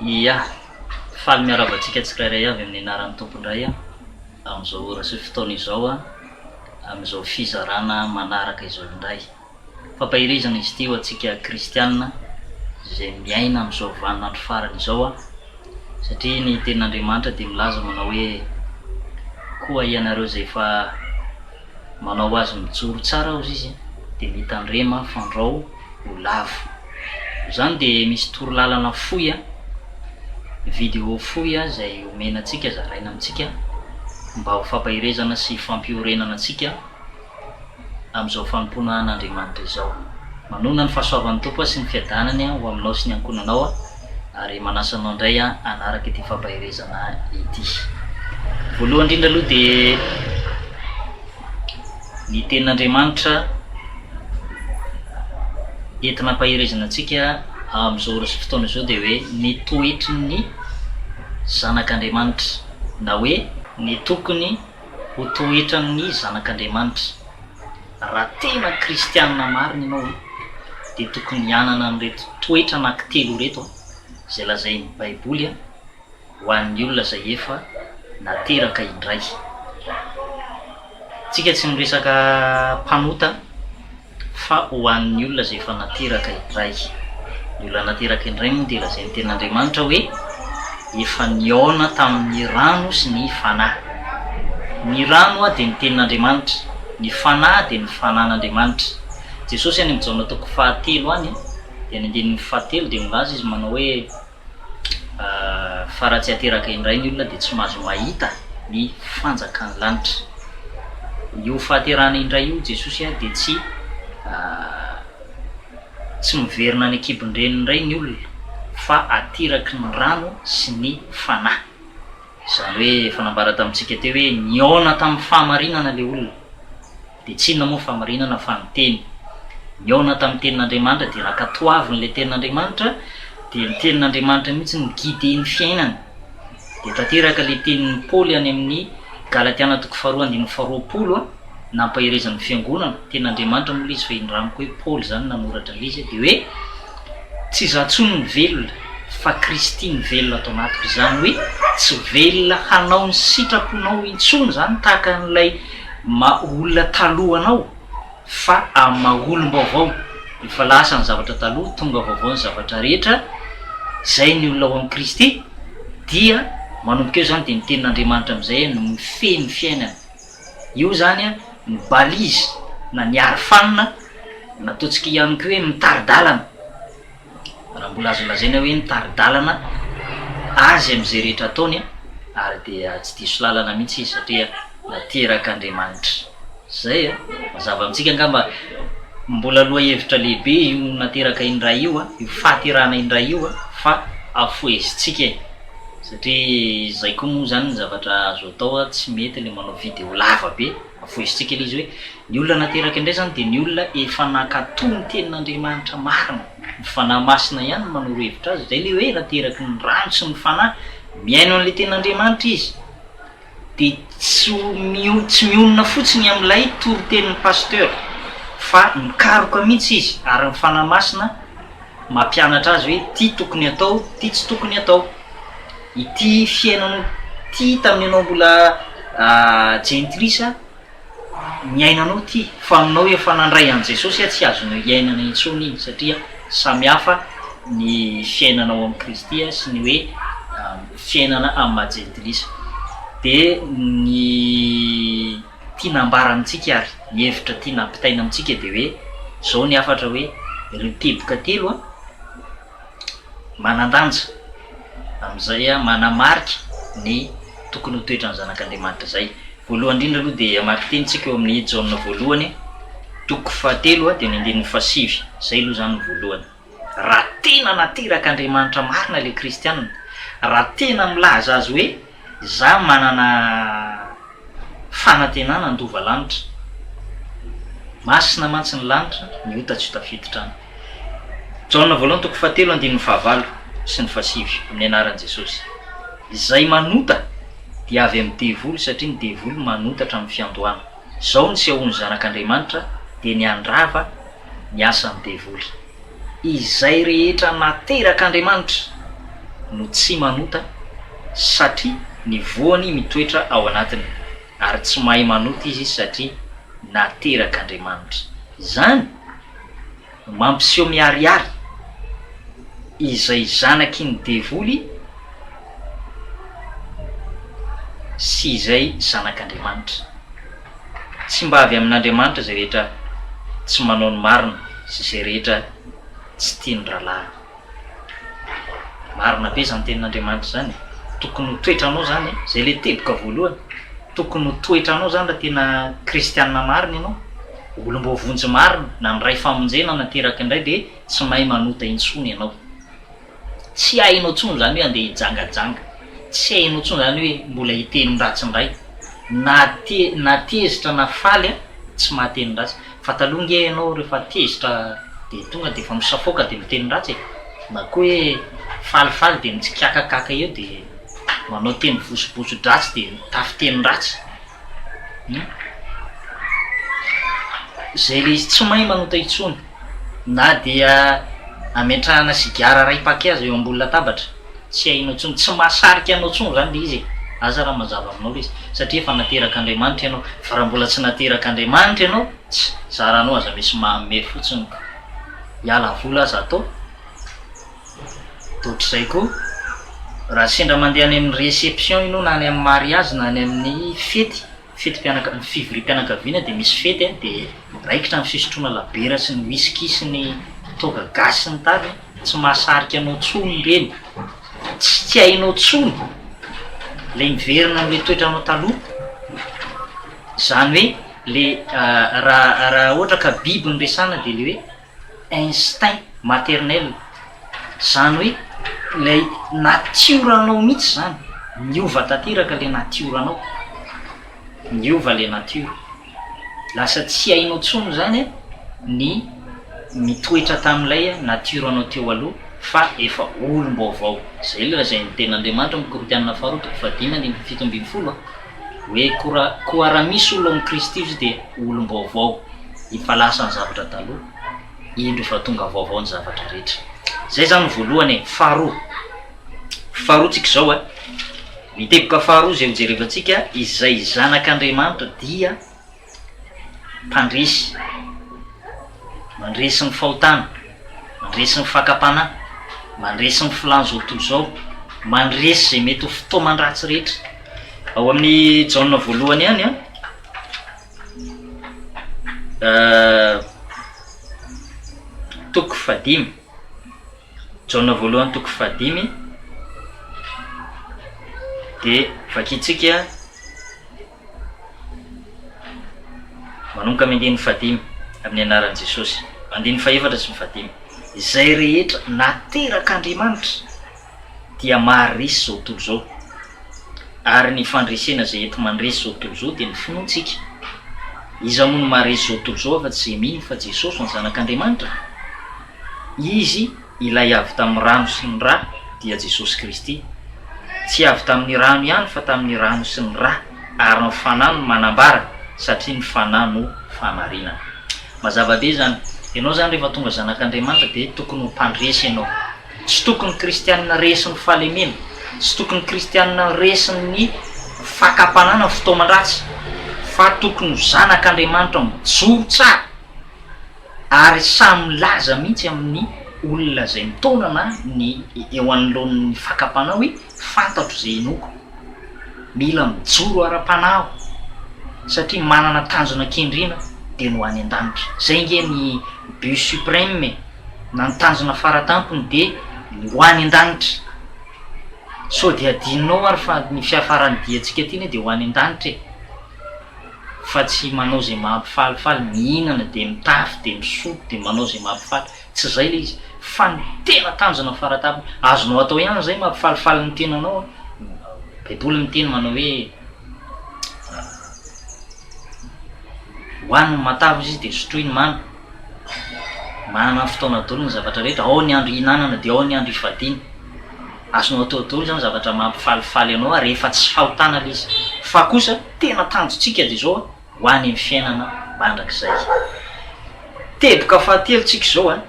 Ia. Faly miarahaba antsika tsirairay avy amin'ny anaran'ny Tompo indray amin'izao ora sy fotoana izao, amin'izao fizarana manaraka izao indray. Fampaherezana izy ity ho antsika kristiana izay miaina amin'izao vanin'andro farany izao, satria ny Tenin'Andriamanitra dia milaza manao hoe, Koa ianareo izay efa manao azy mijoro tsara hozy izy, dia mitandrema, fandrao, ho lavo. Izany dia misy torolalana fohy a, video fohy a izay omena antsika, zaraina amintsika mba ho fampaherezana sy fampiorenana antsika amin'izao fanompoana an'Andriamanitra izao. Manoana ny fahasoavan'ny Tompo a sy ny fiadanany a ho aminao sy ny ankohonanao a ary manasa anao indray a hanaraka ity fampaherezana ity. Voalohany indrindra aloha dia. ny tenin'Andriamanitra entina ampaherezana antsika amin'izao fotoana izao dia hoe ny toetry ny zanak'Andriamanitra na hoe ny tokony ho toetran'ny zanak'Andriamanitra. Raha tena kristianina marina ianao dia tokony hanana an'ireto toetra anankitelo ireto izay lazain'ny Baiboly. ho an'ny olona izay efa nateraka indray. Tsika tsy miresaka mpanota fa ho an'ny olona izay efa nateraka indray. Ny olona nateraka indray moa dia lazain'ny tenin'Andriamanitra hoe efa nihaona tamin'ny rano sy ny Fanahy. Ny rano dia ny tenin'Andriamanitra, ny Fanahy dia ny Fanan'Andriamanitra. Jesosy any amin'ny Jaona toko fahatelo any dia ny andininy fahatelo dia milaza izy manao hoe. Fa raha tsy ateraka indray ny olona dia tsy mahazo mahita ny fanjakan'ny lanitra. Io fahaterahana indray io Jesosy dia tsy tsy miverina any an-kibon-dreniny indray ny olona fa ateraky ny rano sy ny Fanahy. Izany hoe efa nambara tamintsika teo hoe nihaona tamin'ny fahamarinana ilay olona. Dia tsinona moa famarinana fa ny teny nihaona tamin'ny tenin'Andriamanitra dia rakatoavin'ilay tenin'Andriamanitra dia ny tenin'Andriamanitra mihitsy no guider ny fiainany. Dia tanteraka ilay tenin'i Paoly any amin'ny Galatiana toko faharoa andininy faharoapolo a, nampaherezan'ny fiangonana, tenin'Andriamanitra moa ilay izy fa indramiko hoe Paoly izany nanoratra an'ilay izy a, dia hoe. Tsy izaho intsony no velona, fa Kristy no velona ato anatiko. Izany hoe tsy velona hanao ny sitraponao intsony izany tahaka an'ilay maha olona taloha anao, fa amin'ny maha olom-baovao. Efa lasa ny zavatra taloha, tonga vaovao ny zavatra rehetra. Izay ny olona ao amin'i Kristy dia manomboka eo izany dia ny Tenin'Andriamanitra amin'izay no mifehy ny fiainany. Eo zany ny balise na ny arofanina na ataontsika ihany koa hoe mitari-dalana, raha mbola azo lazaina hoe mitari-dalana azy amin'izay rehetra ataony ary dia tsy diso lalana mihitsy izy satria naterak'Andriamanitra. Zay a! Mazava amintsika angamba mbola lohahevitra lehibe io nateraka indray io, io fahaterahana indray io fa afohezintsika e! Satria izay koa moa izany ny zavatra azo atao a, tsy mety ilay manao video lava be, avoizintsika ilay izy hoe ny olona nateraka indray izany dia ny olona efa nankatò ny tenin'Andriamanitra marina, ny Fanahy Masina ihany no manoro hevitra azy, izay ilay hoe nateraky ny rano sy ny Fanahy, mihaino an'ilay tenin'Andriamanitra izy. dia tsy ho tsy mionona fotsiny amin'ilay toritenin'ny pasteur fa mikaroka mihitsy izy ary ny Fanahy Masina mampianatra azy hoe ity tokony atao ity tsy tokony atao ity fiainanao ity tamin'ianao mbola jentilisa Ny ainanao ty, fa aminao efa nandray an'i Jesosy aho tsy azonao hiainana intsony iny satria samy hafa ny fiainanao amin'i Kristy sy ny hoe fiainana amin'ny maha jentilisa. Dia ny tiana ambara amintsika ary ny hevitra tiana ampitaina amintsika dia hoe izao ny hafatra hoe ireo teboka telo a, manan-danja amin'izay manamarika ny tokony ho toetran'ny zanak'Andriamanitra izay. Voalohany indrindra aloha dia hamaky teny isika ao amin'ny Jaona voalohany toko fahatelo dia ny andininy fahasivy, izay aloha izany ny voalohany. Raha tena naterak'Andriamanitra marina ilay kristiana, raha tena milaza azy hoe Za manana fanantenana handova lanitra. Masina mantsy ny lanitra, ny ota tsy ho tafiditra any. Jaona voalohany toko fahatelo andininy fahavalo sy ny fahasivy, amin'ny anaran'i Jesosy. Izay manota dia avy amin'ny devoly satria ny devoly manota hatramin'ny fiandohana. Izao ny sehoan'ny Zanak'Andriamanitra dia ny handrava ny asan'ny devoly. Izay rehetra naterak' Andriamanitra no tsy manota, satria ny voany mitoetra ao anatiny, ary tsy mahay manota izy satria naterak' Andriamanitra. Izany no mampiseho miharihary izay zanaky ny devoly sy izay zanak' Andriamanitra. Tsy mba avy amin'Andriamanitra izay rehetra tsy manao ny marina sy izay rehetra tsy tia ny rahalahiny. Marina be izany tenin'Andriamanitra izany e! Tokony ho toetranao izany e! Izay ilay teboka voalohany. Tokony ho toetranao izany raha tena kristianina marina ianao. Olom-boavonjy marina, nandray famonjena, nateraka indray dia tsy mahay manota intsony ianao. Tsy hainao tsony zany hoe andeha hijangajanga, tsy hainao tsony zany hoe mbola hiteny ratsy ndray, na te na tezitra na faly a tsy mahateny ratsy, fa taloha nge ianao refa tezitra de tonga defa misafoaka de miteny ratsy e, na koa hoe falifaly de mitsikakakaka eo de manao teny vosobosodratsy de mitafy teny ratsy hum zay le izy tsy mahay manota intsony. Na dia ametrahana sigara iray paquet aza eo ambony latabatra, tsy hainao intsony, tsy mahasarika anao intsony izany ilay izy e! Aza raha mazava aminao ilay izy, satria efa naterak'Andriamanitra ianao, fa raha mbola tsy naterak'Andriamanitra ianao, tss! zaranao aza misy manome fotsiny ka! hiala vola aza atao, dia ohatr'izay koa raha sendra mandeha any amin'ny reception ianao na any amin'ny mariazy na any amin'ny fety, Fetim-pianaka, ny fivoriam-pianakaviana dia misy fety dia raikitra ny fisotroana labiera sy ny whisky sy ny toaka gasy sy ny tariny, tsy mahasarika anao tsony ireny, tsy tsy hainao tsony ilay miverina amin'ilay toetranao taloha, izany hoe ilay raha raha ohatra ka biby no resahana dia ilay hoe instinct maternel, zany hoe ilay natioranao mihitsy zany, niova tanteraka ilay natioranao, niova ilay natiora, lasa tsy hainao tsony zany ny mitoetra tamin'ilay natioranao teo aloha fa efa olom-baovao, zay ilay zay ny tenin'Andriamanitra, Korintianina faharoa toko fahadimy andininy fito ambin'ny folo a. Hoe koa, koa raha misy olona ao amin'i Kristy Jesosy dia olom-baovao, efa lasa ny zavatra taloha, indro efa tonga vaovao ny zavatra rehetra. Izay izany ny voalohany e. Faharoa, faharoantsika izao e, ny teboka faharoa izay hojerevantsika, izay zanak'Andriamanitra dia, mpandresy, mandresy ny fahotana, mandresy ny fakam-panahy, mandresy ny filàn'izao tontolo izao, mandresy izay mety ho fitaoman-dratsy rehetra. Ao amin'i Jaona voalohany ihany an, toko fahadimy, Jaona voalohany toko fahadimy, dia vakintsika. Manomboka amin'ny andininy fahadimy, amin'ny anaran'i Jesosy. Andininy fahefatra sy ny fahadimy. Izay rehetra naterak'Andriamanitra dia maharesy izao tontolo izao. Ary ny fandresena izay enti-mandresy izao tontolo izao dia ny finoantsika. Iza moa no maharesy izao tontolo izao afa-tsy izay mino fa Jesosy no Zanak'Andriamanitra? Izy. Ilay avy tamin'ny rano sy ny ra dia Jesosy Kristy. Tsy avy tamin'ny rano ihany fa tamin'ny rano sy ny ra ary ny Fanahy no manambara satria ny Fanahy no fahamarinana. Mazava be izany. Ianao izany rehefa tonga zanak'Andriamanitra dia tokony ho mpandresy ianao. Tsy tokony ny kristianina resin'ny fahalemena, tsy tokony ny kristianina resin'ny fakam-panahy na ny fitaoman-dratsy fa tokony ho zanak'Andriamanitra mijoro tsara. Ary samy milaza mihitsy amin'ny olona izay mitaona na ny eo anoloan'ny fakam-panahy hoe, Fantatro izay hinoako. Mila mijoro ara-panahy aho, satria manana tanjona kendrena, dia ny ho any an-danitra. Izay ange ny but suprême e! na ny tanjona fara-tampony dia ny ho any an-danitra. Sao dia adinonao ary fa ny fiafaran'ny diantsika ity anie dia ho any an-danitra e! fa tsy manao zay mampifalifaly, mihinana dia mitafy dia misotro dia manao zay mampifaly, tsy zay le izy, fa ny tena tanjona faratapony, azonao atao ihany zay mampifalifaly ny tenanao an, baiboly miteny manao hoe hoany ny matavy izy dia sotroy ny mamy, manana ny fotoana dolo ny zavatra rehetra, ao ny andro ihinanana dia ao ny andro ifadiana. Azonao atao daholo izany zavatra mampifalifaly anao rehefa tsy fahotana ilay izy. Fa kosa tena tanjontsika dia izao ho any amin'ny fiainana mandrakizay. Teboka fahatelo tsika izao an,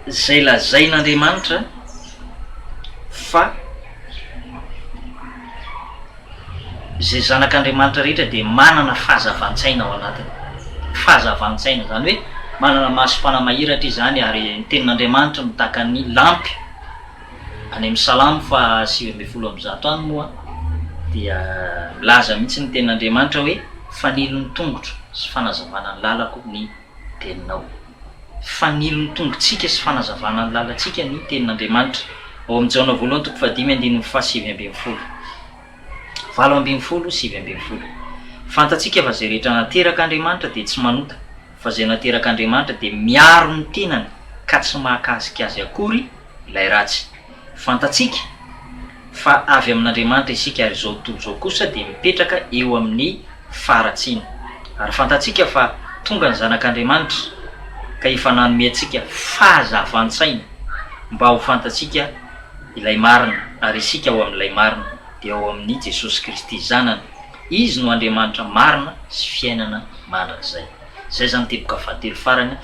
izay lazain'Andriamanitra fa. izay zanak'Andriamanitra rehetra dia manana fahazavan-tsaina ao anatiny. Fahazavan-tsaina, izany hoe manana masom-panahy mahiratra izy izany, ary ny Tenin'Andriamanitra no tahaka ny lampy. Any amin'ny Salamo faha sivy ambin'ny folo amby zato any moa dia milaza mihitsy ny Tenin'Andriamanitra hoe, Fanilo ny tongotro sy fanazavana ny lalako ny. Teninao. Fanilon'ny tongotsika sy fanazavana ny lalantsika ny Tenin'Andriamanitra, ao amin'ny Jaona voalohany toko fahadimy andininy fahasivy ambin'ny folo. Valo ambin'ny folo, sivy ambin'ny folo. Fantatsika fa izay rehetra nateraka Andriamanitra dia tsy manota, fa izay nateraka Andriamanitra dia miaro ny tenany ka tsy mahakasika azy akory, ilay ratsy. Fantatsika fa avy amin'Andriamanitra isika ary izao tontolo izao kosa dia mipetraka eo amin'ny faharatsiana. Ary fantatsika fa tonga ny Zanak'Andriamanitra ka efa nanome antsika fahazavan-tsaina mba ho fantatsika ilay marina ary isika ao amin'ilay marina dia ao amin'i Jesosy Kristy Zanany. Izy no Andriamanitra marina sy fiainana mandrakizay. Izay izany teboka fahatelo farany,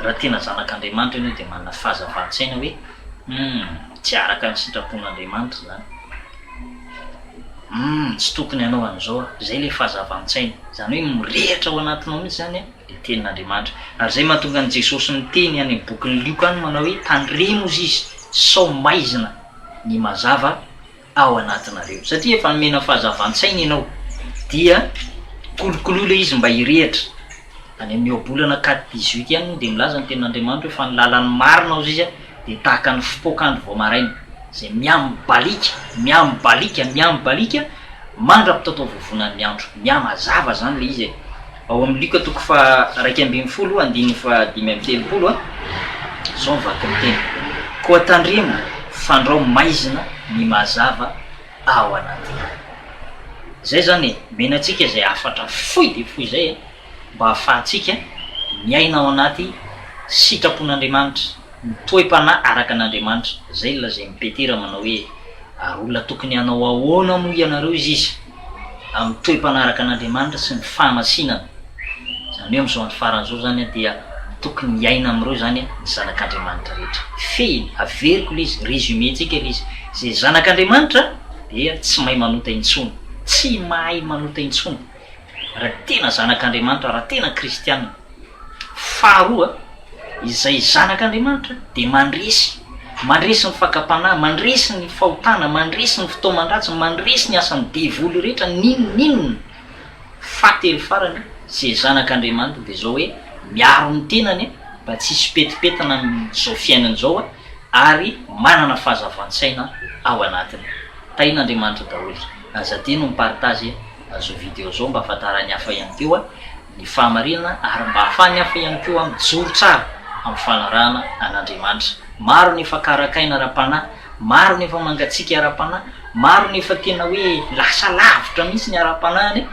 raha tena zanak'Andriamanitra ianao dia manana fahazavan-tsaina hoe humm tsy araka ny sitrapon'Andriamanitra izany, humm tsy tokony hanao an'izao aho, izay ilay fahazavan-tsaina, izany hoe mirehitra ao anatinao mihitsy izany ilay tenin'Andriamanitra. Ary izay mahatonga an'i Jesosy niteny any amin'ny bokin'i Lioka any manao hoe tandremo hozy izy sao maizina ny mazava, ao anatinareo satria efa nomena fahazavan-tsaina ianao dia kolokoloy ilay izy mba hirehitra, any amin'ny ohabolana quatre dix huit ihany moa dia milaza ny tenin'Andriamanitra hoe fa ny lalan'ny marina hozy izy dia tahaka ny fipoak'andro vao maraina izay miamibaliaka, miamibaliaka, miamibaliaka mandra-pitataovovonan'ny andro, mihamazava izany ilay izy e! Ao amin'ny Luka toko faha iraika ambin'ny folo andininy faha dimy amby telopolo, izao ny vaky ny teny, Koa tandremo, fandrao maizina ny mazava ao anatinao. Izay izany e, omena antsika izay hafatra fohy dia fohy izay mba hahafahantsika miaina ao anaty sitrapon'Andriamanitra, ny toe-panahy araka an'Andriamanitra. Izay ny lazain'i Petera manao hoe, Ary olona tokony hanao ahoana moa ianareo izy izy? amin'ny toe-mpanaraka an'Andriamanitra sy ny fahamasinana. Izany hoe amin'izao andro farany izao izany an, dia tokony hiaina amin'ireo izany an, ny zanak'Andriamanitra rehetra. Fehiny, averiko ilay izy, résumé-ntsika ilay izy, izay zanak'Andriamanitra dia tsy mahay manota intsony, tsy mahay manota intsony, raha tena zanak'Andriamanitra, raha tena kristiana. Faharoa, izay zanak' Andriamanitra dia mandresy, mandresy ny fakam-panahy, mandresy ny fahotana, mandresy ny fitaoman-dratsy, mandresy ny asan'ny devoly rehetra, n'inon'inona. Fahatelo farany, izay zanak' Andriamanitra dia izao hoe, miaro ny tenany mba tsy hisy fipetipetana amin'izao fiainana izao ary manana fahazavan-tsaina ao anatiny. Tahin' Andriamanitra daholo. Aza adino ny partage e. Azao video zao mba afantaran'ny hafa ihany koa ny fahamarinana ary mba ahafahan'ny hafa ihany koa mijoro tsara amin'ny fanarahana an'Andriamanitra. Maro ny efa karakaina ara-panahy, maro ny efa mangatsiaka ara-panahy, maro ny efa tena hoe lasa lavitra mihitsy ny ara-panahiny,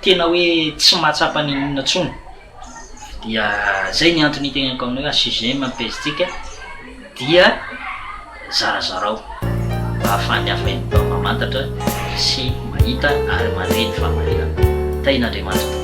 tena hoe tsy mahatsapa n'inon'inona intsony. Dia zay ny antony iteneniko aminao hoe assujet ny page tsika dia zarazarao mba ahafahan'ny hafa ihany koa mamantatra sy mahita ary mandre ny fahamarinana. Tahin'Andriamanitra